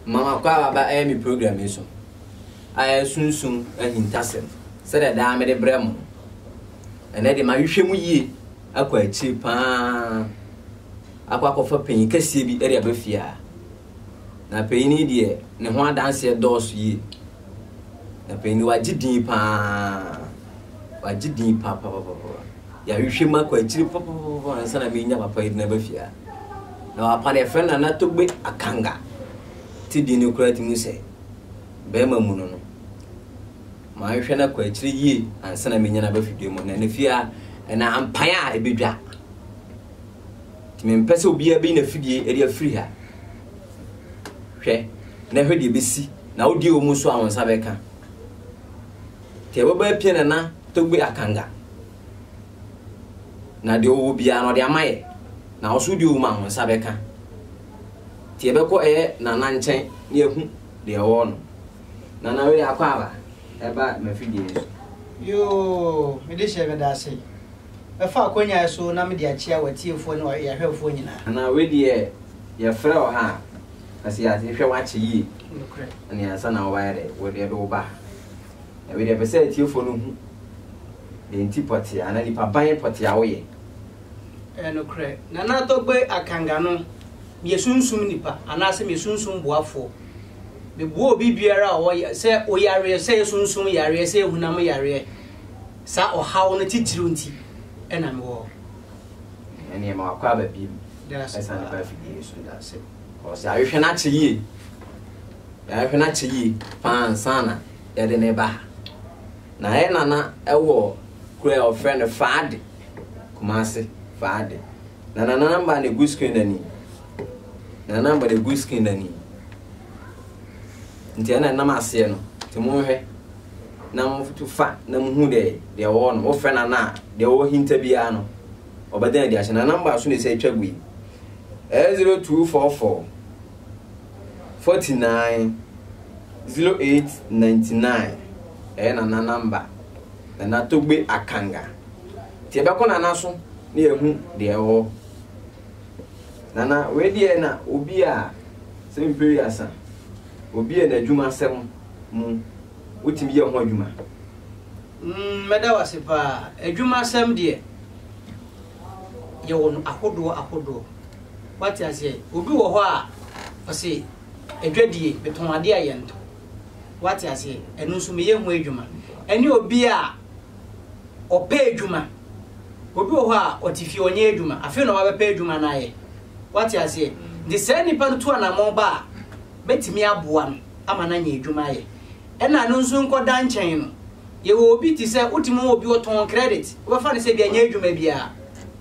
Mama kɔ a waba ɛyɛ me program yi so ayɛ sunsum ahintasɛm sɛdeɛ daa mede brɛ mo no. Ɛnɛ de mahwehwɛ mu yie akɔ akyiri paa akɔ akɔfa panyin kɛseɛ bi de aba fie a na panyin yi deɛ ne ho adanseɛ dɔɔso yie na panyin yi wagye din paa wagye din paapapapa. yɛahwehwɛ mu akɔ akyiri pɔpɔpɔpɔ ansa na menya papa yi na ba fie a na wapa no yɛfrɛ nana togbe akanga te din no koraa ti mu sɛ bɛrima mu no no mahwehwɛ no akɔ akyiri yie ansa na menya no aba fidua mu na ne fie a ɛna ampan a ɛbɛdwa nti mempɛ sɛ obiara bɛyi na fidie ɛde afiri ha hwɛ na hwɛ deɛ bɛsi na wodie wɔ mu so a wo nsa bɛka Ka ɛbɛbɔ apia na na togbe akanga na deɛ ɔwɔ biara na ɔde ama yɛ na ɔso deɛ ɔwɔ mu nsa bɛka nti yɛbɛkɔ ɛyɛ nana nkyɛn na yɛhu deɛ ɛwɔ no nana wei akɔ aba ɛba mafidie no so yoo mede hyɛ meda ase bɛfa akɔnyae so na mede akyia watiefoɔ ne yɛahwɛfoɔ nyinaa nana wei deɛ yɛfrɛ wɔ ha a kasi ase hwɛ wakye yie ɛne ansa na wɔayɛ dɛ wɔde ɛde wo ba Na wei deɛ ɛpɛ sɛ atiefoɔ no hu deɛ nti pɔtee anaa nipa ban pɔtee a woyɛ. Ɛyɛ nokorɛ, Nana Togbe Akanga no, meyɛ sunsum nipa anaasɛ meyɛ sunsum boafoɔ. Meboa obi biara a ɔwɔ ya sɛ oyareɛ, sɛ ɛyɛ sunsum yareɛ, sɛ ɛyɛ hunam yareɛ, saa ɔhaw no titiriw nti na mewɔ hɔ. Ɛneɛ ma wakɔ aba biom. Daase paa. Ɛsane ba afidie yi so. Daase. Ɔsɛ ahwehwɛ no akyɛ yie. Yɛahwɛ no akyɛ yie pa ara ansa na yɛde no reba ha. Na yɛn nana wɔ kuro a wɔfrɛ no Faade, Kumase Faade. Na nana namba na egu screen no ani. Nana namba na egu screen no ani. Nti ɛna nam aseɛ no, nti monhwɛ na mofa na mohu dɛ deɛ wɔwɔ no wofrɛ nana a deɛ wɔwɔ hinta biara no ɔbɛdan adi ahyɛ. Nana namba so na ɛsɛ atwa gu yi. 0244 Forty nine, zero eight ninety nine ɛyɛ nana namba nana togbe akanga nti ɛbɛkɔ nana so na yɛhu deɛ ɛwɔ nana wei deɛ na obi a sɛ mpiri asa obi a n'adwuma asɛm mu wotumi yɛ ho adwuma. Mm, mɛda wase paa. Adwuma asɛm deɛ yɛwɔ no ahodoɔ ahodoɔ. Wate aseɛ? Obi wɔ hɔ a, ɔse, adwadie, metɔn adeɛ a yɛntɔ. Wate aseɛ? Ɛno nso meyɛ ho adwuma. Ɛne obi a ɔpɛ adwuma. Obi wɔ hɔ a, ɔte fie ɔnyɛ adwuma. Afei na wabɛpɛ adwuma no ayɛ. Wate aseɛ? Nti saa nipa no tu anammɔn ba a, mɛtumi aboa no ama no anya adwuma ayɛ. Ɛna ɛno nso nkɔda nkyɛn no, yɛwɔ obi te sɛ, wotumi wɔ obi ɔtɔn credit, wobɛfa no sɛ bi anyɛ adwuma biara.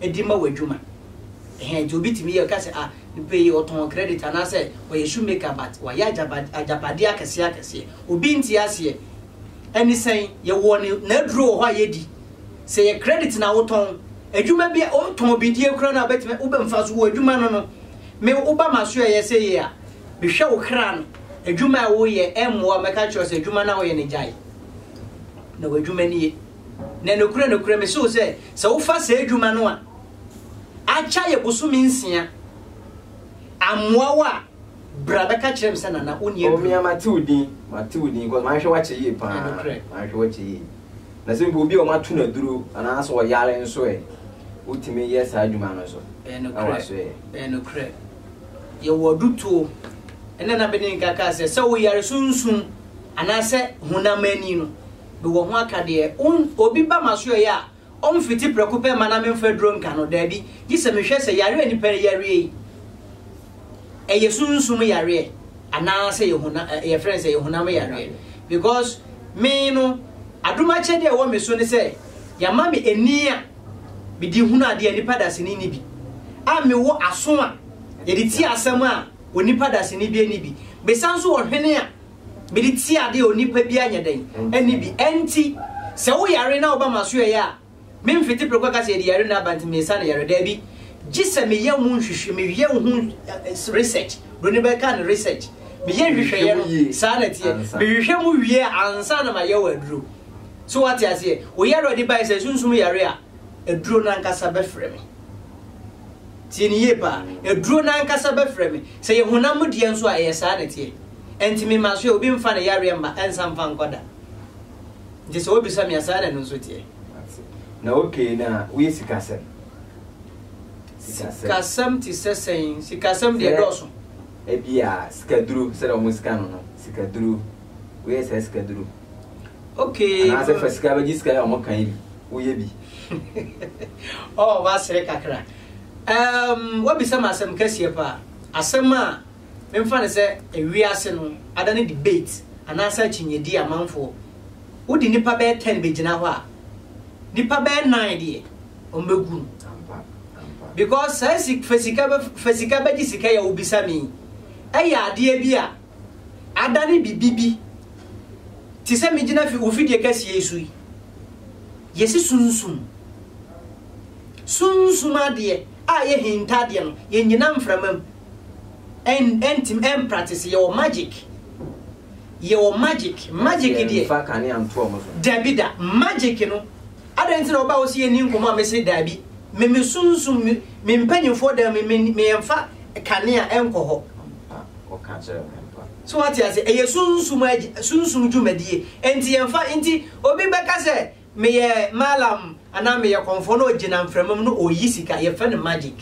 de ma w'adwuma. Ɛhɛn, nti obi tumi yɛ, ɔka sɛ, ah, nipa yi ɔtɔn credit anaasɛ ɔyɛ shoe maker but wayɛ agyapa, agyapadeɛ akɛseɛ akɛseɛ. Obi nte aseɛ. Ɛne sɛn? Yɛwɔ ne, n'aduro wɔ hɔ a yɛdi. Sɛ yɛ credit na wotɔn, adwuma bi a, wotɔn bidie koraa no a wobɛtumi, wobɛ, mfaso wɔ adwuma no no. Me, woba m'aso ɛyɛ sɛ yie a, mehwɛ wo kra no. Adwuma a woyɛ, ɛmmoa, mɛka akyerɛ wo sɛ adwuma no a woyɛ no gyae. Na w'adwuma nie. Na nokorɛ, nokorɛ, mese wo sɛ, sɛ wofa saa adwuma no a, akya yɛ bosome nsia, ammoa wo a, bra bɛka kyerɛ me sɛ, Nana, wonni aduro. Ɔmea, mate wo din, mate wo din, cos mahwɛ w'akyɛ yie paa, mahwɛ w'akyɛ yie. Na sɛ mpo obi a wɔato no aduro anaasɛ ɔyare nso ɛ, wotumi yɛ saa adwuma no nso, na waso ɛ. Ɛyɛ nokorɛ. Yɛwɔ adutoɔ. Ɛnna na Beninka kaa sɛ, sɛ wo yare so nsum anaasɛ honam ani no, mewɔ ho akadeɛ. Wo n, obi ba m'asoɛeɛ a, ɔmfiti prɛko pɛ mma na memfa aduro nka no. Daabi, gye sɛ mehwɛ sɛ yareɛ a nipa reyareɛ yi, ɛyɛ sunsum yareɛ anaa sɛ ɛyɛ hona, ɛ, yɛfrɛ no sɛ ɛyɛ honam yareɛ. Because me no, adom akyɛdeɛ a ɛwɔ me so ne sɛ, yɛama me ani a mede hunu adeɛ a nipa dasani nni bi, a mewɔ aso a yɛde tie asɛm a onipa dasani bi nni bi. Mesan nso wɔ hwene a. Mede tie ade a onipa biara nyɛ dɛn? Ɛnne bi. Ɛnti, sɛ wo yare na woba m'asoɛeɛ a, me mfete prɛko aka sɛ yɛde yare no aba nti mesa no yare. Daabi. Gye sɛ me yɛ ho nhwehwɛ, me yɛ ho research, broni bɛ ka no research, me yɛ nhwehwɛeɛ no, saa na ɛteɛ, me hwehwɛ mu wie a ansa na ma yɛ wo aduro. So wo ate aseɛ? Wo yare a ɔde baeɛ sɛ sunsum yare a, aduro no ankasa bɛ frɛ me. Tie no yie paa. Aduro no ankasa bɛ frɛ me. Sɛ yɛ honam mu deɛ nso a ɛyɛ saa na ɛteɛ. Ɛnti me masoɛ obi nfa ne yareɛ mma ɛnsa mfa nkɔ da Nti sɛ wobisa me a saa na ɛno nso teɛ. Na okay na woyɛ sikasɛm? Sikasɛm te sɛ sɛn? Sikasɛm deɛ dɔɔso. Ebi a sikaduro sɛdeɛ wɔn sika no no sikaduro woyɛ saa sikaduro. Okay. Anaasɛ fa sika bɛgye sika yɛ wɔn kan bi woyɛ bi. Ɔɔ wasere kakra. Um, wabisa ma asɛm kɛseɛ paa. Asɛm a Memfa no sɛ wiase no adane debate anaasɛ akyinnyedie amanfoɔ. Wode nnipa bɛyɛ ten bɛgyina hɔ a, nnipa bɛyɛ nnan deɛ, wɔbɛgu no. Because saa si, fa sika bɛ, fa sika bɛgye sika yi a wobisa me yi, ɛyɛ adeɛ bi a adane biribi bi te sɛ megyina fi, wo fidie kɛseɛ yi so yi. Yɛsi sunsum. Sunsum adeɛ a yɛhinta adeɛ no, yɛnnyina mframa mu. ɛn ɛntimi ɛmpratese yɛwɔ magic yɛwɔ magic magic deɛ yɛnfa kanea nto ɔmo so dabi da magic no adɛn nti na ɔba hɔ sɛ yɛnni nkɔmɔ a mese dabi me me sunsum me me mpanyinfoɔ dan me me me yɛnfa kanea ɛnkɔ hɔ ɔka kyerɛ me mpa so wate ase ɛyɛ sunsum sunsum dwumadie ɛnti yɛnfa ɛnti obi bɛka sɛ Meyɛ Mallam anaa meyɛ kɔmfoɔ na ɔgyina mframa mu na ɔreyi sika, yɛfrɛ no magic.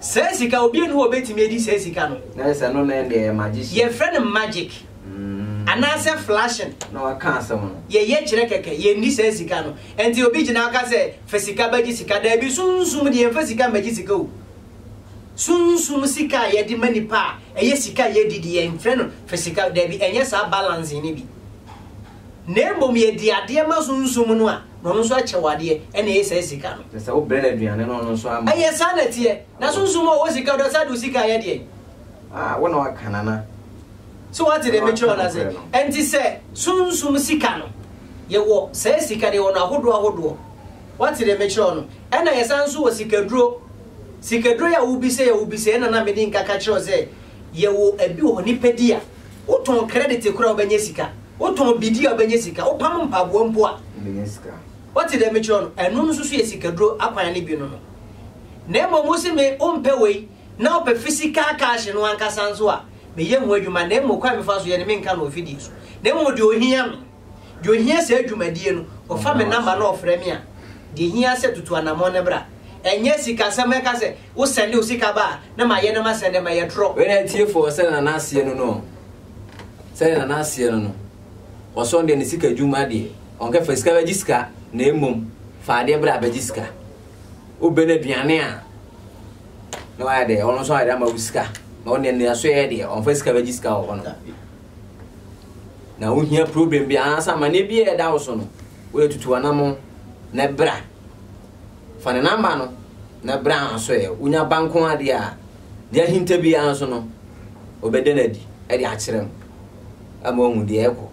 Saa sika, obiara nni hɔ a ɔbɛtumi adi saa sika no. Na kyerɛ sɛ ɛno na ɛnde ɛyɛ magician. Yɛfrɛ no magic anaasɛ flashing. Na waka asɛm no. Yɛyɛ kyerɛ kɛkɛ, yɛnni saa sika no. Ɛnti obi gyina aka sɛ fa sika bɛgye sika, daabi, sunsum deɛ yɛmfa sika mmɛgye sika o. Sunsum sika a yɛde ma nipa a ɛyɛ sika a yɛdi deɛ yɛmfrɛ no fa sika, daabi, ɛnyɛ saa balancing no bi. na mmom yɛde adeɛ ma Sunsum no a, na ɔno nso akyɛ wo adeɛ, ɛna ɛyɛ saa sika no. Kyerɛ sɛ wobrɛ no aduane na ɔno nso ama. Ɛyɛ saa na ɛteɛ. Na Sunsum a ɔwɔ sika no, ɔsan de wo sika ayɛ deɛn? A, wo na waka no anaa? So woate deɛ mekyerɛ wo no ase? Ɛnti sɛ Sunsum sika no, yɛwɔ saa sika no, yɛwɔ no ahodoɔ ahodoɔ. Woate deɛ mekyerɛ wo no? Ɛna yɛsan nso wɔ sikaduro. Sikaduro yi a wobisɛi a wobisɛi, ɛna na mede nkaka kyerɛ wo sɛ, yɛwɔ ɛbi wɔ hɔ, nipadua. Wotɔn credit kor a wobɛnya sika. Wotɔn bidie a wobɛnya sika. Wopam mpaboa mpo a. Wobɛnya sika. Woate deɛ mekyerɛ no? Ɛno nso so yɛ sikaduro akwan no bi no no. Na mmom wo se me wompɛ wei na wopɛ physical cash no ankasa nso a, meyɛ ho adwuma na mmom kwan mefa so yɛ no menka no wɔ fidie so. Na mmom deɛ ohia me. Deɛ ɔhia saa dwumadie no, ɔfa me namba na ɔfrɛ me a, deɛ ɛhia sɛ tutu anamɔn no bra. Ɛnyɛ sikasɛm ɛka sɛ wo sɛnde wo sika ba a na mayɛ na masɛnde ma yɛ trɔ. Wei na atiefoɔ sɛdeɛ na n'aseɛ no no sɛdeɛ na n'aseɛ no no ɔsɔn deɛ ne sika dwum adeɛ ɔnkɛ fa sika bɛgye sika na mmom fa adeɛ bra bɛgye sika wobɛ no aduane a na wayɛ deɛ ɔno nso ayɛ ama wo sika na ɔne ne aso yɛ deɛ ɔnfa sika bɛgye sika wɔ hɔ no na wohia problem bi anaasɛ amanneɛ bi a ɛda wo so no woyɛ tutu anamo na bra fa ne namba no na bra nso ɛ wonya ba nko adeɛ a deɛ ahinta biara nso no wɔbɛda no adi de akyerɛ no ama wahu deɛ ɛkɔ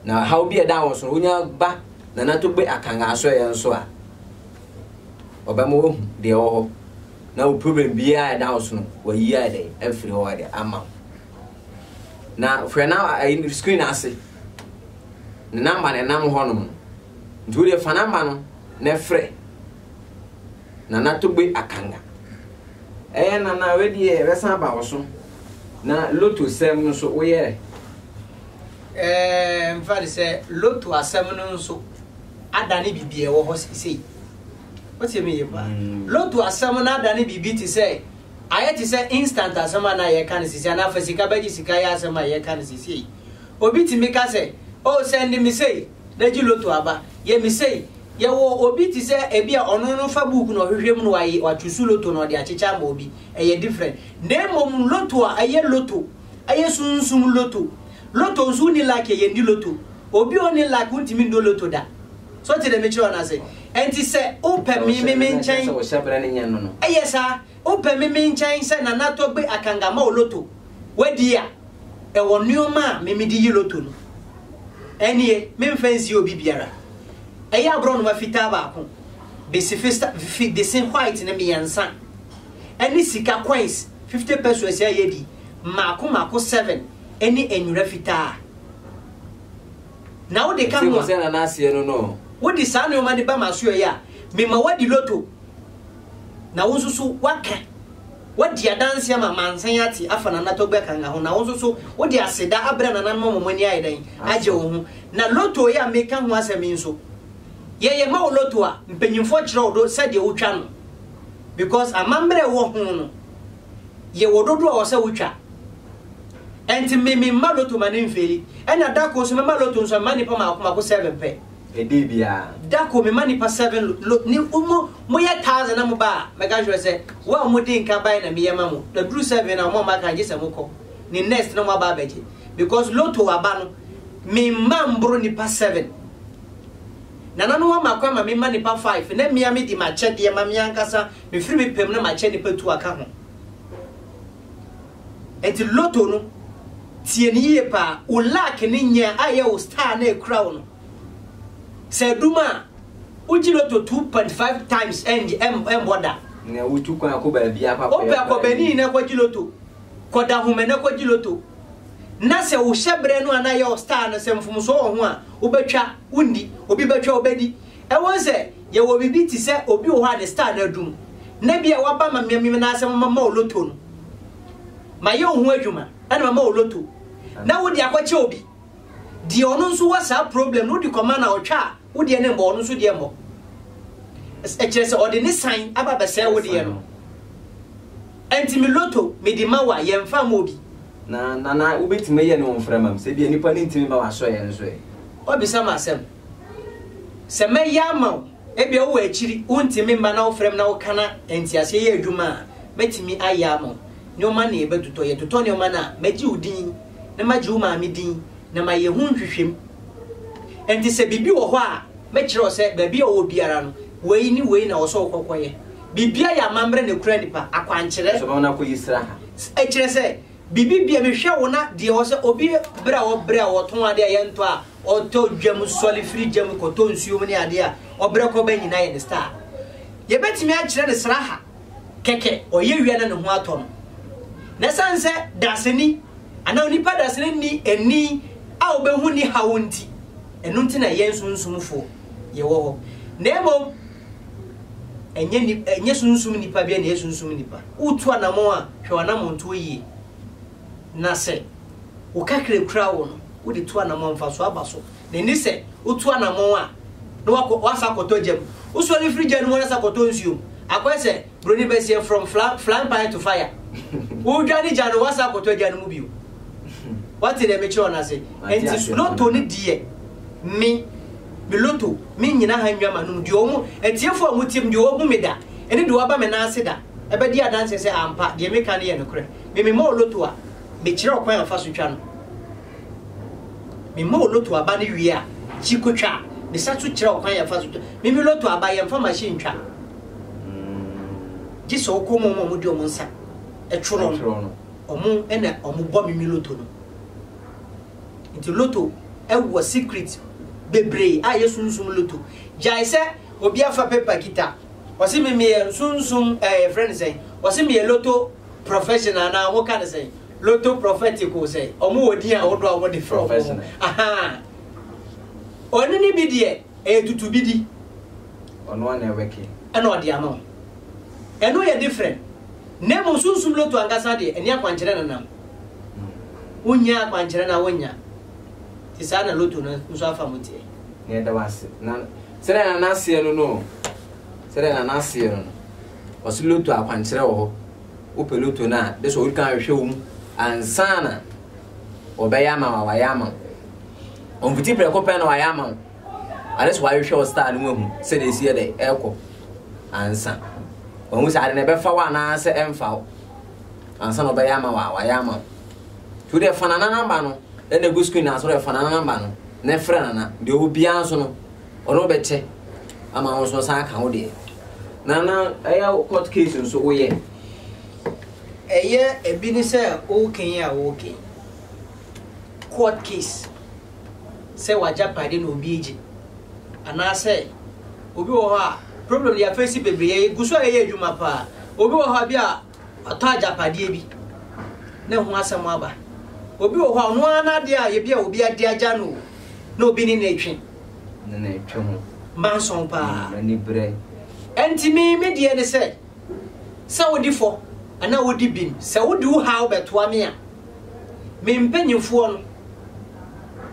na haw bi a ɛda wo so no wonya ba na nato gbe akanga nso ɛ nso a ɔbɛma wahu deɛ ɛwɔ hɔ na wo problem biara ɛda wo so no wayi ayɛ dɛ afiri hɔ ayɛ ama wo na hwɛ na ayi no screen ase ne namba na ɛnam hɔ nom nti wodeɛ fa namba no na ɛfrɛ nana togbe akanga ɛyɛ nana wedeɛ ɛbɛsan aba wo so na loto sɛm no so woyɛ ɛɛ mfa de sɛ loto asɛm no nso adane biribi ɛwɔ hɔ sesei wotie me yɛ paa mm. loto asɛm no adane biribi te sɛ Ayɛ te sɛ instant asɛm a na yɛka no seesei anaa fa sika bɛgye sika yɛ asɛm a yɛka no seesei yi. Obi tumi ka sɛ, Oh, sɛnde me sei, na gye loto aba. Yɛ me sei. Yɛwɔ obi te sɛ ebia ɔno no fa book na ɔhwehwɛ mu na waye, wachusu loto na ɔde akyekyɛ ama obi. Ɛyɛ different. Na mmom loto a ɛyɛ loto Ɛyɛ sunsum lotto. Lotto nso wonni luck a yɛndi lotto. Obi a ɔnni luck wontumi nnɔ lotto da. So wote deɛ mekyerɛ wo no ase? Ɛnti sɛ wopɛ me me me nkyɛn, ɛyɛ saa, wopɛ me me nkyɛn sɛ Nana Togbe Akanga ma wo lotto, woadi a, ɛwɔ nnoɔma a me mede yi lotto no. Ɛnnie, memfa nsie obi biara. Ɛyɛ aborɔnoma fitaa baako, bese fista fi bese white no mmiɛnsa, ɛne sika coins Fifty pesos a yɛadi mmaako mmaako seven ne nwera fitaa. Na wode ka ho a, wode saa nnoɔma no ba m'asoɛeɛ a, mema woadi loto, na wo nso so woaka, woadi adanseɛ ama amansan ate afa Nana Togbe Kanga ho, na wo nso so wode aseda abrɛ nananom ama wɔn ani ayɛ dɛn? Agye wo ho. Na loto yi a meka ho asɛm yi nso, yɛyɛ ma wo loto a, mpanyimfoɔ kyerɛ wo do sɛdeɛ wotwa no. because amammerɛ a ɛwɔ ho no yɛ wɔ dodoɔ a wɔ sɛ wotwa ɛnti me me mma loto ma ne mfeeli ɛna dako nso mema loto nso mema nipa maako maako seven pɛ ɛdee biara dako mema nipa seven lo ne mo mo yɛ thousand na mo ba a mɛka kyerɛ sɛ wo a mo di nka ban na meyɛ ma mo na duru seven na mo a mo aka gye sɛ mo kɔ ne next na mo aba abɛgye because loto aba no me mma mboro nipa seven. Nana no ama kwan ma me mma nnipa five na me ara medi m'akyɛdeɛ ma me ankasa, mefiri me pɛ mu na makyɛ nnipa tu aka ho. Enti Lotto no, tie no yie paa, wo luck ne nya a ɛyɛ wo star no a ɛkura wo no, sɛ adum a, wogye Lotto two point five times ɛngye, ɛm, ɛmbɔ da. Na wotu kwan kɔ baabiara kɔ akɔyɛ Wopɛ kɔ bɛni na kɔgye Lotto, kɔ Dahomey na kɔgye Lotto. na sɛ wo hyɛbrɛ no anaa yɛ wo style no sɛ mfomsoɔ wɔ ho a, wobɛtwa, wondi, obi bɛtwa, wobɛdi. Ɛwom sɛ yɛwɔ biribi te sɛ obi wɔ hɔ a ne style no adum, na ebia waba ma me me nan ase ma mama wo lotto no, mayɛ wo ho adwuma ɛna mama wo lotto, na wode akɔkyɛ obi, deɛ ɔno nso wɔ saa problem no wode kɔma no a ɔtwa a, Wo deɛ no mmɔ, ɔno nso deɛ mmɔ. Ɛkyerɛ sɛ ɔde ne san aba bɛsɛe wo deɛ no. Ɛnti me loto mede ma wo a yɛmfa mma obi. Na Nana wobɛtumi ayɛ ne wo mfrɛ ma me sɛ bia nipa no ntumi ma w'asɔeɛ no so ɛ. Wabisa me asɛm. Sɛ mɛyɛ ama wo, ebia wowɔ akyiri wontumi mma na wofrɛ me na woka na nteaseɛ yɛ adwuma a, mɛtumi ayɛ ama wo. Nnoɔma na yɛbɛtotɔ. Yɛtotɔ nnoɔma no a, mɛgye wo din na magye wo maame din na mayɛ ho nhwehwɛmu. Enti sɛ biribi wɔ hɔ a, mɛkyerɛ wo sɛ baabi a ɔwɔ biara no, wei ne wei na ɛwɔ sɛ wokɔ kɔyɛ. Biribiara yɛ amammerɛ na ɛkura nnipa, akwankyerɛ. Soma wo na kɔyi sraha. Ɛkyerɛ sɛ, biribi bia mehwɛ wo na deɛ ɛwɔ sɛ obi berɛ a ɔbrɛ a ɔtɔn adeɛ a yɛntɔ a ɔtɔ gya mu sɔre firi gya mu kɔtɔ nsuo mu ne adeɛ a ɔbrɛ kɔba nyinaa yɛ ne star. Yɛbɛtumi akyerɛ no sraha. kɛkɛ, ɔyɛ wia na ne ho atɔ no. Na ɛsiane sɛ dasani anaa onipa dasani nni ani a obehu nni haw nti, ɛno nti na yɛn sunsumfo yɛwɔ hɔ, na mmom ɛnyɛ ni ɛnyɛ sunsum nipa bi na ɛyɛ sunsum nipa. Wotu anammɔn a, hwɛ w'anammɔntuo yie, na sɛ wo kakra a ekura wo no, wode tu anammɔn a, mfasoɔ aba so. Ne ne sɛ wotu anamɔn a na wakɔ wasan akɔtɔ gya mu. Wosɔre firi gya no mu ara san kɔtɔ nsuo mu. Akɔyɛ sɛ buroni bɛseɛ from flying pan to fire. Wodwane gya no wasan akɔtɔ gya no mu bio. Wate deɛ mekyerɛ wo no ase. Nti loto no deɛ me me loto me nyina ha nnwa m'anom deɛ ɔmo atiefo a ɔmo tiem deɛ ɔmo hu me da ɛne deɛ waba me nan ase da ɛbɛdi adanseɛ sɛ ampa deɛ meka no yɛ nokorɛ. Me mema wo loto a mekyerɛ wo kwan a fa so twa no. Mema wo loto aba no wie a, kyi kotwa. Mesa so kyerɛ wo kwan a fa so twa. Me me loto aba, yɛmfa machine ntwa. Gye sɛ wokɔ mu a wɔn a wɔde wɔn nsa twerɛ no, wɔn na wɔbɔ me me loto no. Nti loto wɔ secret bebree a yɛsunsum loto. Gyae sɛ obi afa paper kita, ɔse me meyɛ sunsum ɛɛ yɛfrɛ no sɛn, ɔse meyɛ loto professional anaa wɔka no sɛn. Loto Profetico sɛ ɔmo wɔ din ahodoɔ a wɔde frɛ ɔmo ho. Ahaa. Ɔno ne bi deɛ ɛyɛ tutubidi. Ɔno ara na ɛwɛke. Ɛna ɔde ama wo. Ɛno yɛ different. Na mmom Sunsum Loto ankasa deɛ ɛne akwankyerɛ no nam. Wonnya akwankyerɛ no a wonnya. Nti saa na Loto no nso afa mu teɛ. Na yɛda wo ase. Na sɛdeɛ na n'aseɛ no no o. Sɛdeɛ na n'aseɛ no no. Ɔse Loto akwankyerɛ wɔ hɔ. wopɛ loto no a, gye sɛ wodi kan hwehwɛ wɔ mu ansa na wɔbɛyɛ ama wo a wɔayɛ ama wo. Ɔmfiti prɛko pɛ na wɔayɛ ama wo. Ade sɛ wɔahwehwɛ wo star no mu ahu sɛdeɛ ɛsi yɛ dɛ ɛrekɔ ansa. Wɔahu sɛ ade na ɛbɛfa wo anaasɛ ɛmfa wo ansa na wɔbɛyɛ ama wo a wɔayɛ ama wo. Nti wode ɛfa nana namba no ɛna ɛgu screen ase wode ɛfa nana namba no na ɛfrɛ nana deɛ ɔwɔ biara nso no ɔno bɛkyɛ ama wo nso ɔsan aka wo deɛ na na ɛyɛ wo court case nso woyɛ ɛyɛ ebi ne sɛ woken yi a woken court case sɛ wagyapade na obi agye anaasɛ obi wɔ hɔ a problem yɛ afɛsi bebree yɛ gu so a ɛyɛ adwuma paa obi wɔ hɔ a bi a Watɔ agyapadeɛ bi na ɛho asɛm aba. Obi wɔ hɔ a ɔno ara n'adeɛ a ebi a obi ade agya no o, na obi ne no retwe. Ne no retwe ho. Mma nsɔn paa. Mm, ani berɛ. Ɛnti me, me deɛ ne sɛ, sɛ wodi fɔ anaa wodi bim, sɛ wode wo haw bɛtoa me a, me mpanyimfoɔ no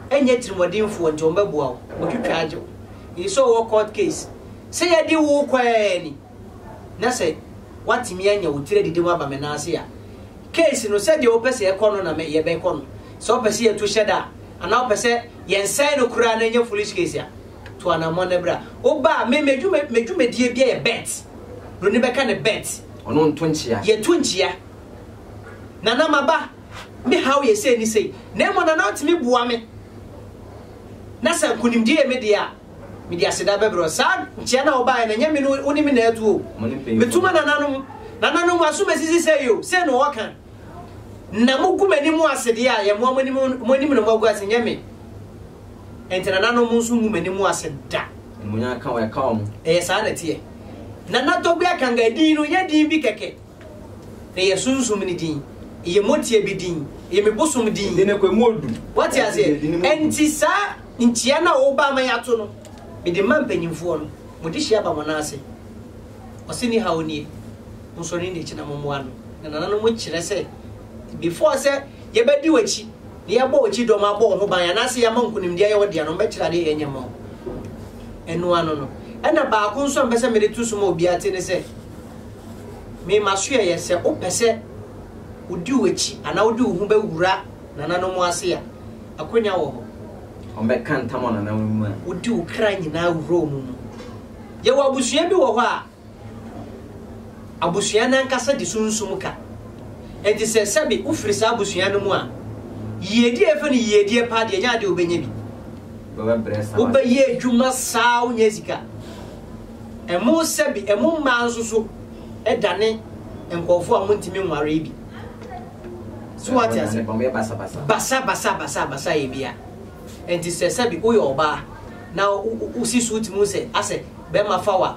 ɛnyɛ atirimuɔdenfoɔ nti wɔbɛboa wo, wɔtwitwa agye wo. Nso ɔwɔ court case, sɛ yɛde wo kɔ ɛɛ ni. na sɛ woatumi anya wo tiri adidi mu aba me nan ase a, case no sɛdeɛ wopɛ sɛ ɛkɔ no na me yɛbɛkɔ no. Sɛ wopɛ sɛ yɛtu hyɛ da a, anaa wopɛ sɛ yɛnsɛe no koraa na ɛnyɛ foolish case a, to anammɔn na bra. Woba a, me m'adwuma m'adwumadie bi yɛ bet. Broni bɛka ne bet. Ɔno nto nkyea. Yɛto nkyea. Nana maba, me haw yɛ sei ne sei. Na mmom Nana wotumi boa me na sɛ nkonimdie yɛ me deɛ a, Mede aseda bɛbrɛ wo. Saa nkyea no a wobaeɛ no, ɛnyɛ me ne wo ne me na atu o. Metu ma nananom. Nananom, mo asom asi sesɛɛ o, sei na wɔka. Na mogu m'anim ase deɛ a, yɛmmoa mo anim, mo anim na moagu ase, ɛnyɛ me. Enti nananom, mo nso mmu m'anim ase da. Animuonyam nka wɔn, ɛka wɔn. Ɛyɛ saa na ɛteɛ. Nana Togbe Akangae din no nyɛ din bi kɛkɛ. Eyɛ sunsum ne din. Eyɛ motie bi din. Eyɛ me bosom din. Ede ne kwa mu odu. Wate aseɛ? Enti saa nkyia no a woba ama yɛato no, mede ma mpanyimfoɔ no. Mode hyia ba mo nan ase. Ɔse ne haw nie. Monsɔre ne n'akyi na mommoa no. Na nananom kyerɛ sɛ, before sɛ yɛbɛdi w'akyi, na yɛabɔ w'akyi dɔm, abɔ wo ho ban, anaasɛ yɛama nkonimdi ayɛ wo dea no, wɔbɛkyerɛ adeɛ a yɛnyɛ mma wo. Ɛno ano no. Ɛna baako nso a mepɛ sɛ mede to so ma obiara te ne sɛ, Me m'asoɛeɛ, sɛ wopɛ sɛ wodi w'akyi anaa wode wo ho bɛwura nananom ase a, akwannya wɔ hɔ. Wɔbɛka ntam wɔ nananom mu a. Wode wo kra nyinaa wura wɔn mu. Yɛwɔ abusua bi wɔ hɔ a, abusua no ankasa di sunsum ka. Enti sɛ sɛbe wofiri saa abusua no mu a, yiedie a yɛfrɛ no yiedie paa deɛ, ɛnyɛ adeɛ a wobɛnya bi. Wobɛbrɛ saa. Wobɛyɛ adwuma saa, wonnya sika. Ɛmo sɛbe, ɛmo mmaa nso so dane nkurɔfoɔ a wɔntumi nwaree bi. So wate ase? Basa basa basa basa yɛ bia. Nti sɛ sɛbe woyɛ ɔbaa na wosi so wotumi hu sɛ asɛ bɛrima fa wa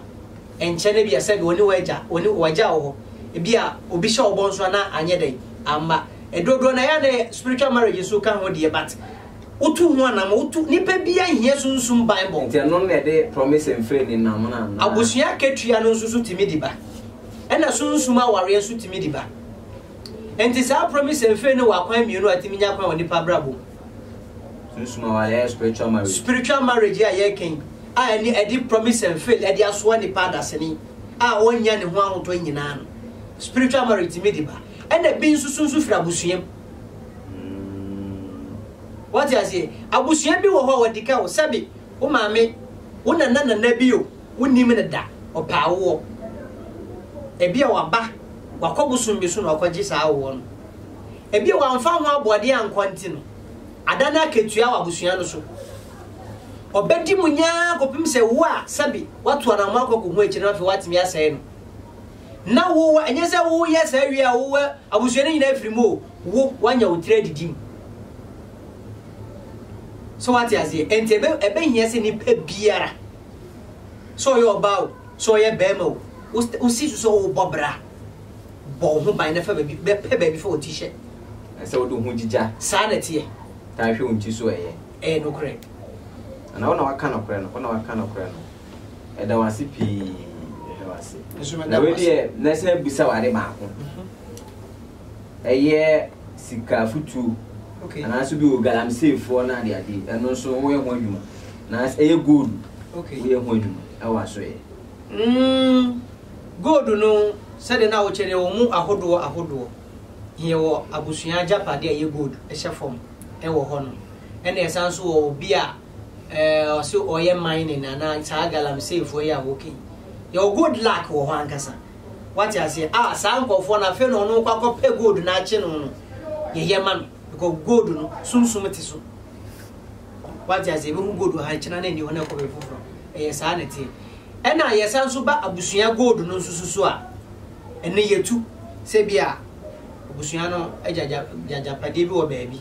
nkyɛ no bia sɛbe ɔne w'agya ɔne w'agya wɔ hɔ ebia obi hyɛ wo bɔ nso anaa anyɛ dɛn amma ɛdodoɔ na yɛ a na yɛ spiritual marriage nso ka ho deɛ but Wotu ho anam, wotu, nipa bia nhia sunsum Bible. Nti ɛno na ɛde promise mfiri ne nam no anaa? Abusua akatua no nso so tumi de ba. Ɛna sunsum awareɛ nso tumi de ba. Nti saa promise mfiri no wɔ akwan mmienu a tumi nya kwan wɔ nipa abrabɔ mu. Sunsum awareɛ yɛ spiritual marriage. Spiritual marriage a yɛreka yi a ɛne ɛde promise mfiri ɛde asoa nipa adasene a ɔnya ne ho ahotɔ nyinaa no. Spiritual marriage tumi de ba. Ɛna bi nso so nso firi abusua mu. Wate aseɛ? Abusua bi wɔ hɔ a wɔadi ka wo. Sɛbe wo maame, wo nana nana bi o, wonnim no da, ɔpɛ awoɔ. Ebia waba, wakɔ bosom bi so na wakɔgye saa awoɔ no. Ebia wamfa ho aboɔden ankɔ nti no, ada no akatua wɔ abusua no so. Ɔbɛdi mu nyaa kɔpem sɛ wo a sɛbe woato anammɔn akɔ akɔhu akyire no afei woatumi asɛe no. na wo wa, ɛnyɛ sɛ woyɛ saa wie a wowɔ abusua no nyinaa firi mu o, wo wanya wo tiri adidi mu. So wate aseɛ? Ɛnti ɛbɛ ɛbɛhia sɛ nipa biara sɛ ɔyɛ ɔbaa o, sɛ ɔyɛ bɛrima o, wosi so sɛ wobɔ bra, bɔ wo ho ban na fa baabi, bɛpɛ baabi fa wo ti hyɛ. Na sɛ wode wo ho gyigya. Saa na ɛteɛ. Taa hwɛ wo nti so ɛyɛ. Ɛyɛ nokorɛ. Anaa wo na waka nokorɛ no, wo na waka nokorɛ no. Yɛda wo ase pii. Yɛda wo ase. Nso meda wo ase. Na wei deɛ, na sɛ bisa wo ade baako. Mhm. Ɛyɛ sika afutuo. Okay. Anaasɛ bi wɔ galamsey foɔ na ade ade. Ɛno nso woyɛ ho adwuma. Na ɛyɛ gold. Okay. Woyɛ ho adwuma. Ɛwɔ aso yɛ. Mm, gold no sɛdeɛ na wokyɛ deɛ wɔn mu ahodoɔ ahodoɔ. Yɛ wɔ abusua agyapadeɛ a ɛyɛ gold ɛhyɛ fam ɛwɔ hɔ no. Ɛna ɛsan nso wɔ obi a. Ɔse ɔyɛ mining anaa saa galamsey foɔ yi a woka yi yɛwɔ gold luck wɔ hɔ ankasa wate aseɛ a saa nkɔfoɔ no afei na ɔno kɔ akɔpɛ gold no akye no no yɛyɛ ma no because gold no sunsum te so wate aseɛ bɛhu gold wɔ ha kyena no ɛni hɔ no ɛkɔ bɛ foforɔ ɛyɛ saa na ɛteɛ ɛna yɛsa nso ba abusua gold no nso susu a ɛne yɛtu sɛ bi a abusua no agyagyapadeɛ bi wɔ baabi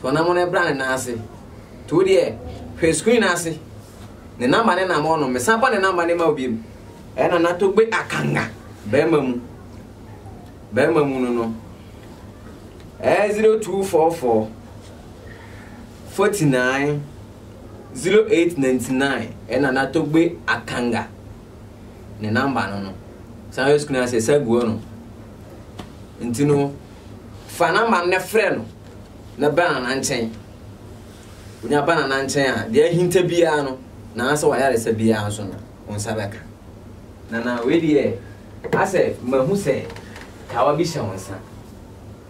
To ɔnamɔ no bra ne nan ase. To wo deɛ, hwɛ screen no ase. Ne namba ne nam ɔno. Mesan bɔ ne namba ne ma wo biom. Ɛna na to gbe akanga. Bɛrima mu. Bɛrima mu no no. Ɛɛ 0244 49 0899 ɛna na to gbe akanga. Ne namba no no. San hwɛ screen ase, ɛsa guo no. Nti no, Fa n'amannɛ frɛ no, na bra Nana nkyɛn. Wonya ba Nana nkyɛn a, deɛ ahinta biara no, anaasɛ w'ayaresa biara nso no, wo nsa bɛka. Nana, wei deɛ, asɛ mahu sɛ kawa bi hyɛ wo nsa.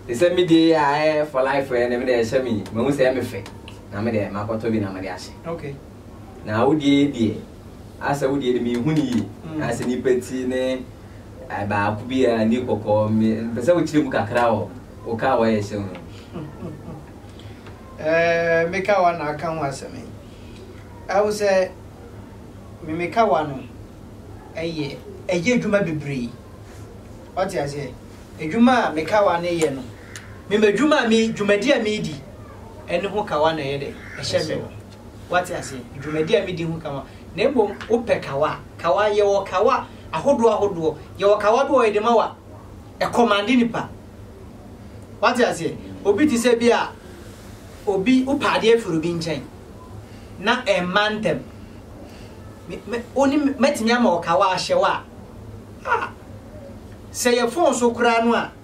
Te sɛ me deɛ yi a ɛyɛ for life ɛ ne me deɛ ɛhyɛ me yi, mahu sɛ ɛyɛ me fɛ, na me deɛ makɔtɔ bi na mede ahyɛ. Okay. Na wo deɛ yi deɛ, Asɛ wo deɛ de menhu no yie asɛ nipa ti ne baako bi a ni kɔkɔɔ me mpɛ sɛ wokyerɛ mu kakra wɔ wo kaa wayɛ hyɛ no. Ɛɛ me kaa wa na aka ho asɛm yi. Ɛwo sɛ me me kaa wa no ɛyɛ ɛyɛ adwuma bebree. Ɔte aseɛ adwuma a me kaa wa no yɛ no me ma adwuma a me dwumadi a me di ɛne ho kaa wa na ɛyɛ dɛ ɛhyɛ me. Woate aseɛ? Dwumadi a medi ho kawa. Na mmom wopɛ kawa a, kawa, yɛwɔ kawa ahodoɔ ahodoɔ. Yɛwɔ kawa bi wɔ hɔ yɛde ma wo a, ɛkɔmande nipa. Woate aseɛ? Obi te sɛ bi a, obi, wopɛ adeɛ firi obi nkyɛn, na ɛmma ntɛm. Me, me, wo ne me, mɛtumi ama wo kawa ahyɛ wo a, ah, sɛ yɛ fon so koraa no a,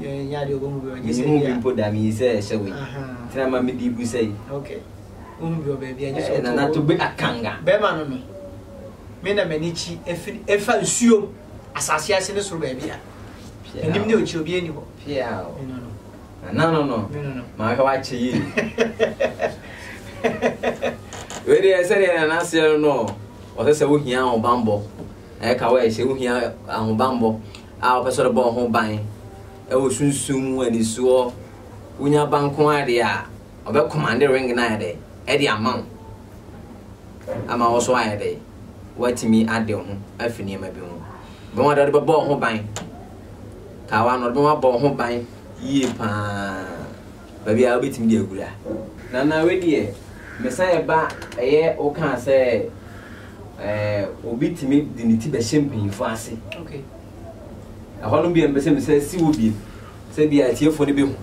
Menhu bi mpo da, meyi sɛ ɛhyɛ wei. Tena ma mede gu sɛ yi. Nana Togbe Akanga. Bɛrima no no, me na m'ani kyi efiri efa nsuo asase ase ne soro baabi a. Anim ne okyi obi ani hɔ. Nana no no, maa hwɛ wakyɛ yie. Wei deɛ sɛdeɛ nana seɛ no no, ɔsɛ sɛ wohia ahobanbɔ. Ɛka wɔ ɛhyɛ wohia ahobanbɔ. a wopɛ sɛ ɔde bɔ wo ho ban wɔ sunsum mu anisoɔ wonya ba nko ara deɛ a ɔbɛ commande ring no ayɛ dɛ ɛde ama wo ama wo so ayɛ dɛ woatumi ade wo ho afi nneɛma bi ho bɛma ɔde bɛbɔ wo ho ban kawa no ɔde bɛma bɔ wo ho ban yie paa Baabi a wobɛtumi de awura. Nana wei deɛ mesane ba ɛyɛ wokaa sɛ eh, obi tumi de ne ti bɛhyɛ mpanyinfoɔ ase okay. ɛhɔ no bia mpɛ sɛ mesɛ si wɔ biem sɛ bia atiefoɔ no bɛhu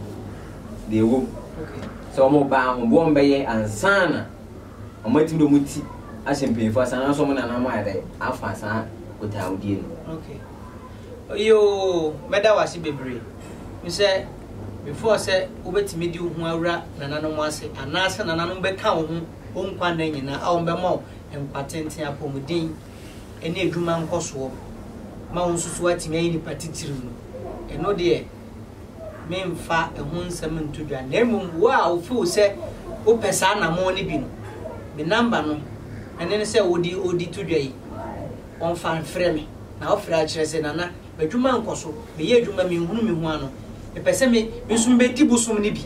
deɛ ɛwɔ mu okay. sɛ wɔn baa ho boɔ mbɛyɛ ansana wɔn atumi de wɔn ti ahyɛ mpanyinfoɔ ase anaasɛ wɔn nana mo ayɛ dɛ afa saa botaawodie no okay. Yoo, mɛda wo ase bebree. Mesɛ, before sɛ wobɛtumi de wo ho awura nananom ase, anaasɛ nananom bɛka wo ho wo nkwa nna nyinaa a wɔbɛma wo nkwa tenten, apɔmuden, ne adwuma nkɔsoɔ, ma wo nso so woatumi ayɛ nipa titiriw no, ɛno deɛ memfa ɛho nsɛm nto dwa. Na mmom wo a wo feel sɛ wopɛ saa anamɔn no bi no, me number no, ɛne no sɛ wode odi to dwa yi, wɔmfa mfrɛ me. na ɔfrɛ akyerɛ sɛ, Nana, m'adwuma nkɔ so, meyɛ adwuma, menhunu me ho ano. Mepɛ sɛ me nso mebɛdi bosom no bi,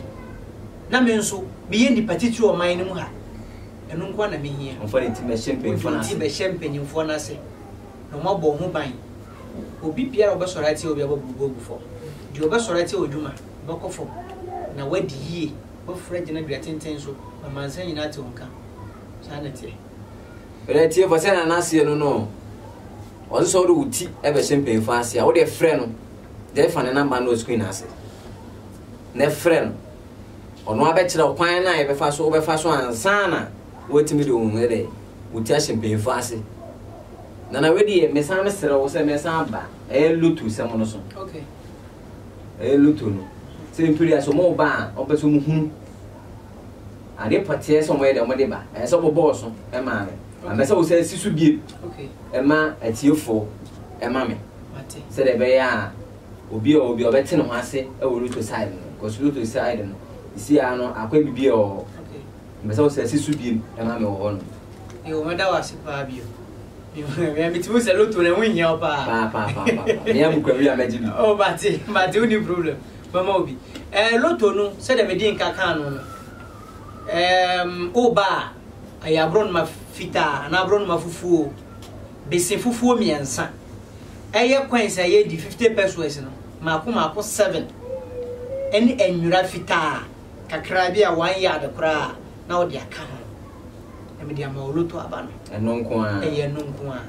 na me nso meyɛ nipa titire ɔman no mu ha. Ɛno nko ara na mehia. Wɔmfa ne ti mmɛhyɛ mpanyimfoɔ no ase. Wɔde ne ti bɛhyɛ mpanyimfoɔ no ase, na wɔabɔ ho ban. Obi biara a ɔbɛsɔre atia obi a, wɔabubu agu fam. Deɛ ɔbɛsɔre atia w'adwuma, ɔbɛkɔ fam. Na woadi yie, woaforo agyina dua tenten so, na ɔmansan nyinaa te wo nka. Saa na ɛteɛ. Bɛdɛ tiefo sɛ na n'aseɛ no no ɔdze sɛ ɔde wo ti bɛhyɛ mpanyinfo ase a wode frɛ no dɛ fa ne namba no screen ase na frɛ no ɔno abɛkyerɛ kwan no a yɛbɛfa so wobɛfa so ansana woatumi de wo dɛ wo ti ahyɛ mpanyinfo ase na na wedi yɛ mesan mesrɛ wo sɛ mɛsan ba ɛyɛ loto sɛm no so okay ɛyɛ loto no sɛ mpiri aso mo ba a ɔpɛ so mo hunu Ade pɔtee sɛ wɔyɛ dɛ wɔde ba, ɛsɛ sɛ wɔbɔ ɔso ma me. Na mɛsɛ wo sɛ si so bio ma atiefo ma me, sɛdeɛ ɛbɛyɛ a obi a ɔwɔ bi a ɔbɛte ne ho ase wɔ Luto side no, cause Luto side no sisi ara no akwan bibiara wɔ hɔ. Mɛsɛ wo sɛ si so bio ma me wɔ hɔ nom. Yo, mɛda wo ase paa bio. Mea mete mu sɛ Luto no ɛho nhia wo paa. Paa paa paa paa. Mea mekura wie a mɛgye bi. Oh, mate, mate, wonni problem. Mɛma wo bi. Ɛɛ, lotto no, sɛdeɛ mede nka kaa no no, ɛɛm, woba a, ɛyɛ aborɔnoma fitaa anaa aborɔnoma fufuo, bese fufuo mmiɛnsa. Ɛyɛ coins a ɛyɛ di 50 pesos no, mmaako mmaako seven, ɛne anwira fitaa kakra bi a one yard koraa na wode aka ho. Na mede ama wo lotto aba no. Ɛno nko ara. Ɛyɛ ɛno nko ara.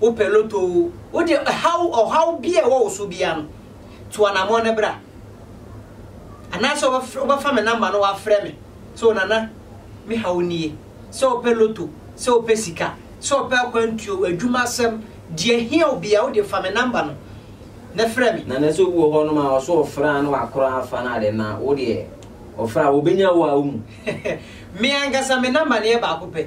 wopɛ lotto o, wo deɛ ɛhaw ɔhaw biara ɛwɔ wo so biara no, tu anamɔn no bra. Anaasɛ wobɛfa me namba no wafrɛ me sɛ Onana me haw nie, sɛ wopɛ lotto, sɛ wopɛ sika, sɛ wopɛ akwantuo, adwuma asɛm, deɛ ɛhia wo biara, wo deɛ fa me namba no na frɛ me. Nana sɛ obi wɔ hɔ nom a ɔso ɔfrɛ a na wakora afa no ade na wo deɛ ɔfrɛ a wɔbɛnya wo a wo mu. Me ankasa me namba no yɛ baako pɛ.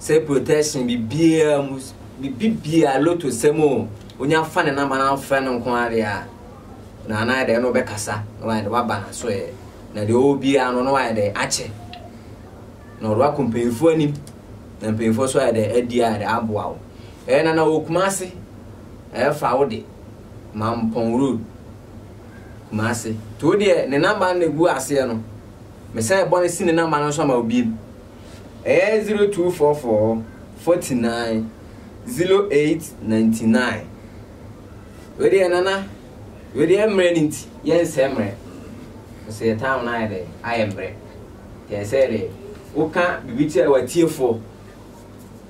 sɛ protection biribiara mu, biribiara, lotto sɛm o, onya fa ne number na afrɛ no nko ara deɛ a, na anayɛ dɛ na ɔbɛkasa na wayɛ dɛ waba n'aso ɛ, na deɛ ɔwɔ biara no na wayɛ dɛ akyɛ, na ɔde wakɔ mpanyinfoɔ anim, na mpanyinfoɔ nso ayɛ dɛ adi ayɛ dɛ aboa wo. Ɛyɛ nana wɔ Kumasi, ɛyɛ fa wo de, Mampɔn road, Kumasi. To deɛ ne number no na egu aseɛ no, mesan bɔ no si ne number no nso ama wo biem. Ɛyɛ zero two four four forty nine zero eight ninety nine. Wei deɛ nana wei deɛ mmerɛ no nti yɛnsɛ mmerɛ sɛ yɛ time no ayɛ dɛ ayɛ mmerɛ yɛ sɛ dɛ woka biribi kyerɛ watiefoɔ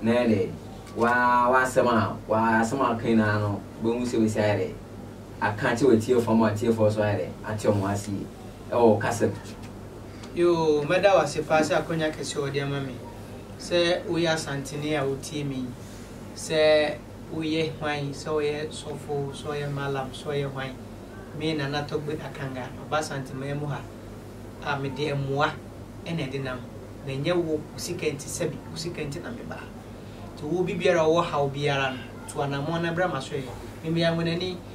na yɛ dɛ waa wasɛm a waa asɛm a aka nyinaa no bɛhu sɛ bɛsi ayɛ dɛ aka kyerɛ watiefoɔ ma watiefoɔ so ayɛ dɛ ate ɔmo asie ɛwɔ kasa Yoo, mɛda wo ase paa sɛ akwanya kɛse a wɔde ama me sɛ woyɛ Asanteni a wotie me yi, sɛ woyɛ hwan, sɛ ɔyɛ sɔfo, sɛ ɔyɛ Mallam, sɛ ɔyɛ hwan, me Nana Togbe Akanga, maba Asanteman mu ha a mede mmoa na ɛde nam, manyɛ wo wo sika nti, sɛbe wo sika nti na mebaa, nti wo obi biara a ɔwɔ haw biara no, tu anammɔn na bra m'asoɛeɛ, Mimi Anguanani.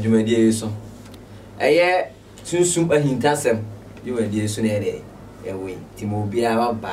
dwumadie yi so. Ɛyɛ sunsum ahintasɛm dwumadie so na yɛde ɛwɔ yi, nti ma obiara ba.